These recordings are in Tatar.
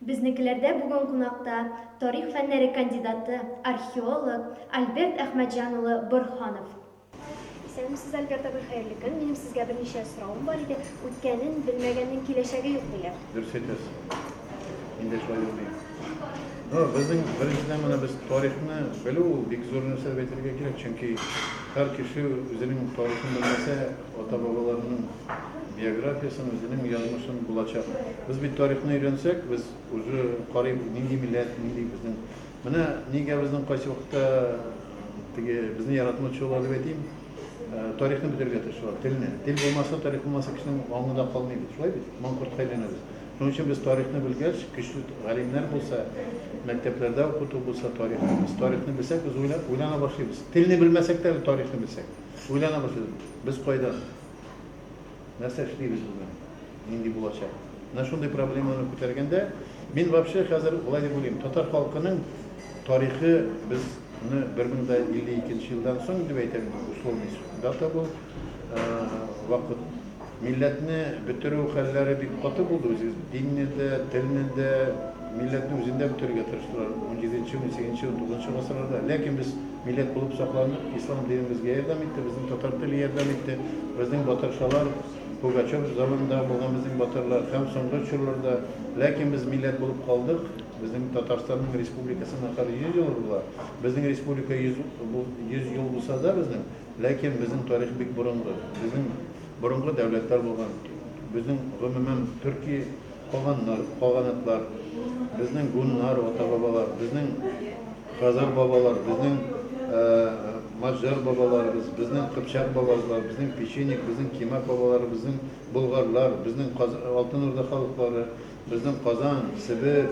Безнекеләрдә бүген кунакта тарих фәннәре кандидаты, археолог Альберт Әхмәтҗан улы Борханов. Исәнмесез, Альберт абый, хәерле көн. Минем сезгә берничә сорауым бар иде. Үткәнен белмәгәннең киләчәге юк диләр. Дөрес әйтәсез. Инде шулай юк бит. Безнең беренчедән менә без тарихны белү ул бик зур нәрсә дип әйтергә кирәк, чөнки һәр кеше үзенең тарихын белмәсә, ата-бабаларының биографиясен, үзенең язмышын булачак. Без бит тарихны өйрәнсәк, без уже карыйб, нинди милләт, нинди безнең. Менә нигә безнең кайсы вакытта теге безне яратмаучылар дип әйтим, тарихны бетерергә тырышалар, телне. Тел булмаса, тарих булмаса, кешенең аңы да калмый бит. Шулай бит? Маңкортка әйләнәбез. Шуның өчен без тарихны белгәч, көчле галимнәр булса, мәктәпләрдә укыту булса тарихны, без тарихны белсәк, без уйлана башлыйбыз. Телне белмәсәк тә, тарихны белсәк, уйлана башлыйбыз. Без кайда? Нәрсә эшлибез бүген? Нинди булачак? Менә шундый проблеманы күтәргәндә, мин вообще хәзер болай дип уйлыйм, татар халкының тарихы безне 1052 елдан соң дип әйтәм, условный дата бу, вакыт Милләтне бетерү хәлләре бик каты булды. Үзегез динне дә, телне дә, милләтне үзен дә бетерергә тырыштылар унҗиденче, унсигезенче, унтугызынчы гасырларда. Ләкин без милләт булып сакландык, ислам дине безгә ярдәм итте, безнең татар теле ярдәм итте, безнең батыршалар, Пугачев заманындагы булган безнең батырлар һәм соңгы чорларда. Ләкин без милләт булып калдык. Безнең Татарстанның республикасының ахыры 100 елы була. Безнең республика 100 бу 100 ел булса да безнең, Ләкин безнең тарих бик борынгы. Безнең борынгы дәүләтләр булган. Безнең, гомумән, төрки каганнар, каганатлар, безнең гуннар, ата-бабалар, безнең хазар бабалар, безнең маҗар бабаларыбыз, безнең кыпчак бабалар, безнең печенек, безнең кимәк бабаларыбыз, безнең болгарлар, безнең Алтын Урда халыклары, Безнең Казан, Себер,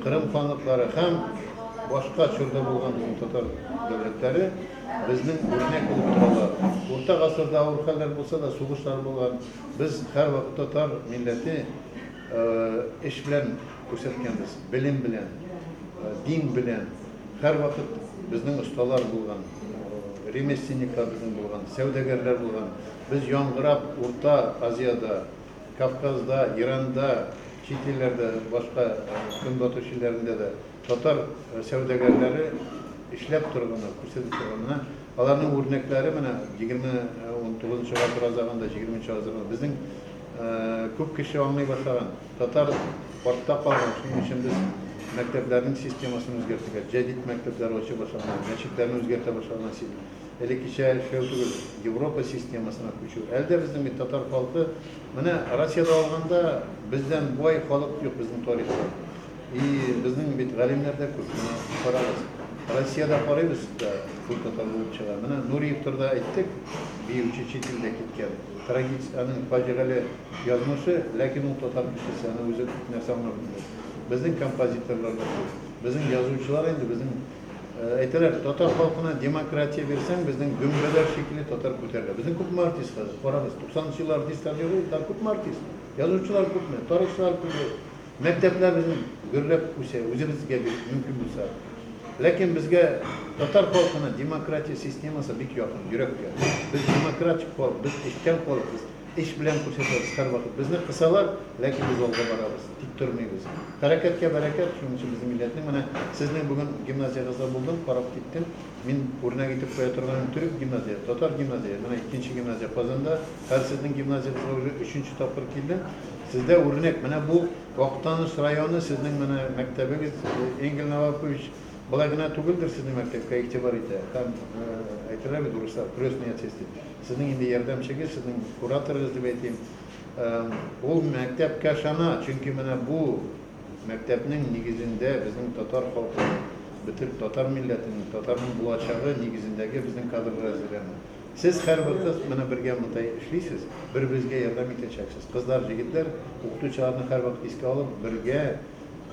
Кырым ханлыклары һәм башка чорда булган безнең татар дәүләтләре безнең үрнәк булып торалар. Урта гасырда авыр хәлләр булса да, сугышлар булган. Без һәрвакыт татар милләте эш белән күрсәткәнбез, белем белән, дин белән. Һәрвакыт безнең осталар булган, ремесленниклар безнең булган, сәүдәгәрләр булган. Без яңгырап Урта Азиядә Кавказда, Иранда, чит илләрдә, башка Көнбатыш илләрендә дә татар сәүдәгәрләре эшләп торганнар, күрсәтеп торганнар. Аларның үрнәкләре менә егерме унтугызынчы гасыр азагында, егерменче гасырда безнең күп кеше аңлый башлаган. Татар артта калган, шуның өчен без мәктәпләрнең системасын үзгәртергә, җәдит мәктәпләр ачу башлаган, мәчетләрне үзгәртә башлаган. элеккечә эшләү түгел, Европа системасына күчү. Әле дә безнең бит татар халкы, менә Россиядә алганда, бездән бай халык юк безнең тарихта. И безнең бит галимнәр дә күп, менә карагыз. Россиядә карыйбыз да, күп татар булып чыга. Менә Нуриев турыда әйттек, биюче чит илдә киткән. Трагиц, аның фаҗигале язмышы, ләкин ул татар кешесе, аны үзе күп нәрсә аңлап белде. Безнең композиторлар да күп. Безнең язучылар инде, безнең Әйтәләр, татар халкына демократия бирсәң, безнең дөмбәләр шикелле татар күтәрелә. Безнең күпме артист хәзер? Карагыз, 90 еллар артистлар юк иде, хәзер күпме артист? Язучылар күпме? Тарихчылар күпме? Мәктәпләр безнең гөрләп үсә, үзебезгә бит мөмкин булса. Ләкин безгә татар халкына демократия системасы бик якын, йөрәккә. Без демократик халык, без эшчән халык, без Эш белән күрсәтәбез һәрвакыт. Безне кысалар, ләкин без алга барабыз, тик тормыйбыз. Хәрәкәткә бәрәкәт, шуның өчен безнең милләтнең, менә сезнең бүген гимназиягызда булдым, карап киттем, мин үрнәк итеп куя торганым төрек гимназия, татар гимназия, менә икенче гимназия Казанда, хәзер сезнең гимназиягызга уже өченче тапкыр килдем, сездә үрнәк, менә бу Актаныш районы, сезнең менә мәктәбегез, Энгель Новакович болай гына түгелдер сезнең мәктәпкә игътибар итә һәм әйтәләр бит урыслар, крестный отец дип. Сезнең инде ярдәмчегез, сезнең кураторыгыз дип әйтим. Ул мәктәпкә ышана, чөнки менә бу мәктәпнең нигезендә безнең татар халкының, бөтен татар милләтенең, татарның булачагы нигезендәге безнең кадрлар әзерләнә. Сез һәрбер кыз менә бергә монда эшлисез, бер-берегезгә ярдәм итәчәксез. Кызлар, җегетләр, укытучыларны һәрвакыт искә алып, бергә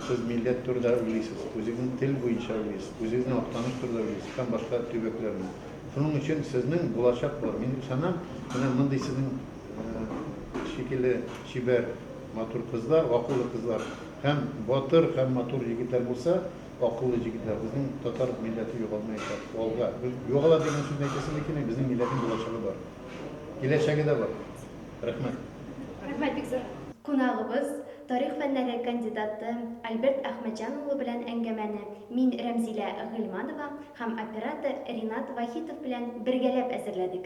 сез милләт турыда уйлыйсыз, үзегезнең тел буенча уйлыйсыз, үзегезнең Актаныш турыда уйлыйсыз һәм башка төбәкләрне. Шуның өчен сезнең булачак бар. Мин ышанам, менә мондый сезнең шикелле чибәр, матур кызлар, акыллы кызлар һәм батыр һәм матур егетләр булса, акыллы җегетләр, безнең татар милләте югалмаячак. Алга. Югала дигән сүзне әйтәсемә килми, безнең милләтнең булачагы бар. Киләчәге дә бар. Рәхмәт. Рәхмәт бик зур. Кунагыбыз. Тарих фәннәре кандидаты Альберт Әхмәтҗан улы белән әңгәмәне мин, Рәмзилә Гыйльманова, һәм оператор Ринат Вахитов белән бергәләп әзерләдек.